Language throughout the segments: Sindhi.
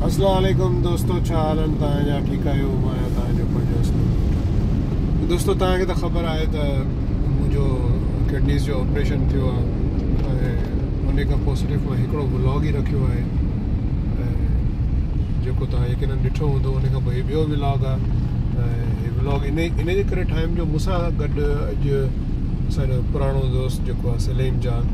اسلام عليڪم دوستو ڇا حال آهن توهان جا ٺيڪ آهيو مان آهيان توهان جو پنهنجو دوستو توهان کي ته خبر آهي ته منهنجو ڪڊنيز جو آپريشن ٿيو آهي ۽ ان کان پوء صرف مان هڪڙو ولاگ ئي رکيو آهي جيڪو توهان يقينن ڏٺو هوندو ان کان پوء هي ٻيو ولاگ آهي هي ولاگ ان ان جي ڪري ٺاهيم جو مون سان گڏ اڄ اسان جو پراڻو دوست جيڪو آهي سليم جان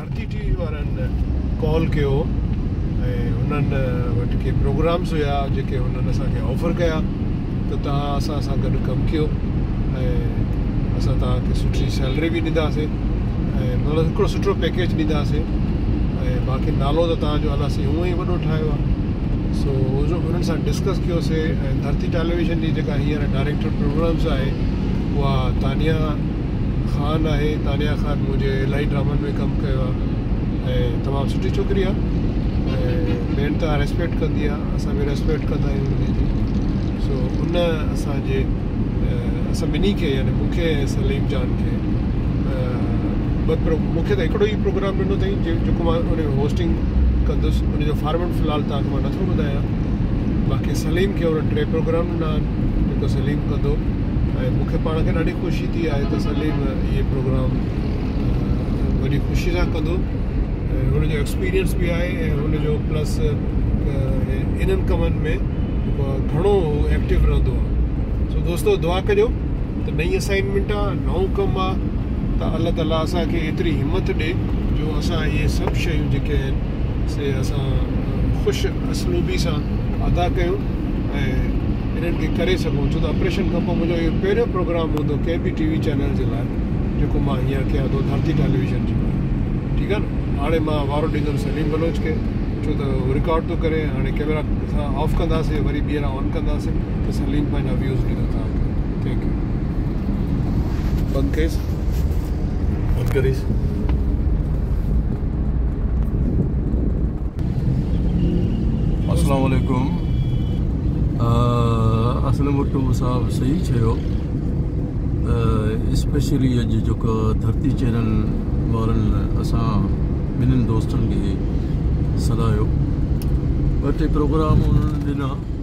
ڀارتي ٽي وي وارن ڪال ڪيو ۽ هنن وٽ ڪي پروگرامز هيا جيڪي هنن اسان کي آفر ڪيا ته توهان اسان سان گڏ ڪم ڪيو ۽ اسان توهان کي سٺي سيلري به ڏينداسين ۽ مطلب هڪڙو سٺو پيڪيج ڏينداسين ۽ باقي نالو ته توهان جو الله سائين هونء ئي وڏو ٺاهيو آهي سو انهن سان ڊسڪس ڪيوسي ۽ ڌرتي ٽيليويزن جي جيڪا هينئر ڊائريڪٽر پروگرامز آهي اها تانيا خان آهي تانيا خان منهنجي الاهي ڊرامن ۾ ڪم ڪيو آهي ۽ تمام سٺي ڇوڪري آهي ۽ ٻين تان ريسپيڪٽ ڪندي آهي اسان به ريسپيڪٽ ڪندا آهيون ٻنهي جي سو ان اسانجي اسان ٻنهي کي يعني مون کي ۽ سليم جان کي مون کي ته هڪڙو ئي پروگرام ڏنو اٿائين جيڪو مان ان جو هوسٽنگ ڪندس ان جو فارميٽ في الحال تان کي مان نٿو ٻڌايان باقي سليم کي ان ٽي پروگرام ڏنا آهن جيڪو سليم ڪندو ۽ مون کي پاڻ کي ڏاڍي خوشي ٿي آهي ته سليم اهي پروگرام وڏي خوشي سان ڪندو ۽ هن جو ايڪسپيرينس به آهي ۽ هن جو پلس انهن ڪمن ۾ گهڻو ايڪٽو رهندو آهي سو دوستو دعا ڪجو ته نئي اسائنمنٽ آهي نئون ڪم آهي ته الله تعالیٰ اسانکي ايتري همت ڏي جو اسان اهي سڀ شيون جيڪي آهن سي اسان خوش اسلوبي سان ادا ڪيون ۽ انهن کي ڪري سگهون ڇو ته آپريشن کانپوء منهنجو اهو پهريون پروگرام هوندو ڪنهن به ٽي وي چينل جي لاء جيڪو مان هينئر ڪيان ٿو ڌرتي ٽيليويزن جي لاء ٺيڪ آهي نه هاڻي مان وارو ڏيندم سليم بلوچ کي ڇو ته هو رڪارڊ ٿو ڪري هاڻي ڪيمرا اسان آف ڪنداسين وري ٻيهر آن ڪنداسين ته سليم پنهنجا ويوز ڏيندو توهان کي ٿينڪ يو بند ڪيس بند ڪريس اسلام عليڪم اسلم وٽو صاحب صحيح چيو ته اسپيشلي اڄ جيڪا ڌرتي چينل وارن اسان ٻنهن دوستن کي سڏايو ٻه ٽي پروگرام انهن ڏنا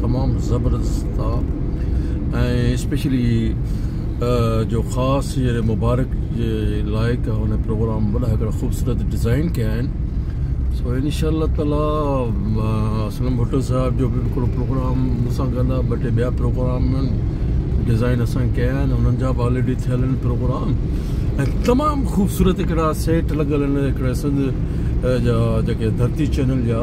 تمام زبردست ٿا ۽ اسپيشلي جو خاص جي مبارڪ جي لائق هن پروگرام وڏا هڪڙا خوبصورت ڊيزائن ڪيا آهن سو ان شاء الله تعالی اسلم ڀٽو صاحب جو به هڪڙو پروگرام مون سان گڏ آهي ٻه ٽي ٻيا پروگرام ڊيزائن اسان ڪيا آهن انهن جا به آلريڊي ٿيل آهن پروگرام ۽ تمام خوبصورت هڪڙا سيٽ لڳل آهن هڪڙا سنڌ جا جيڪي ڌرتي چينل جا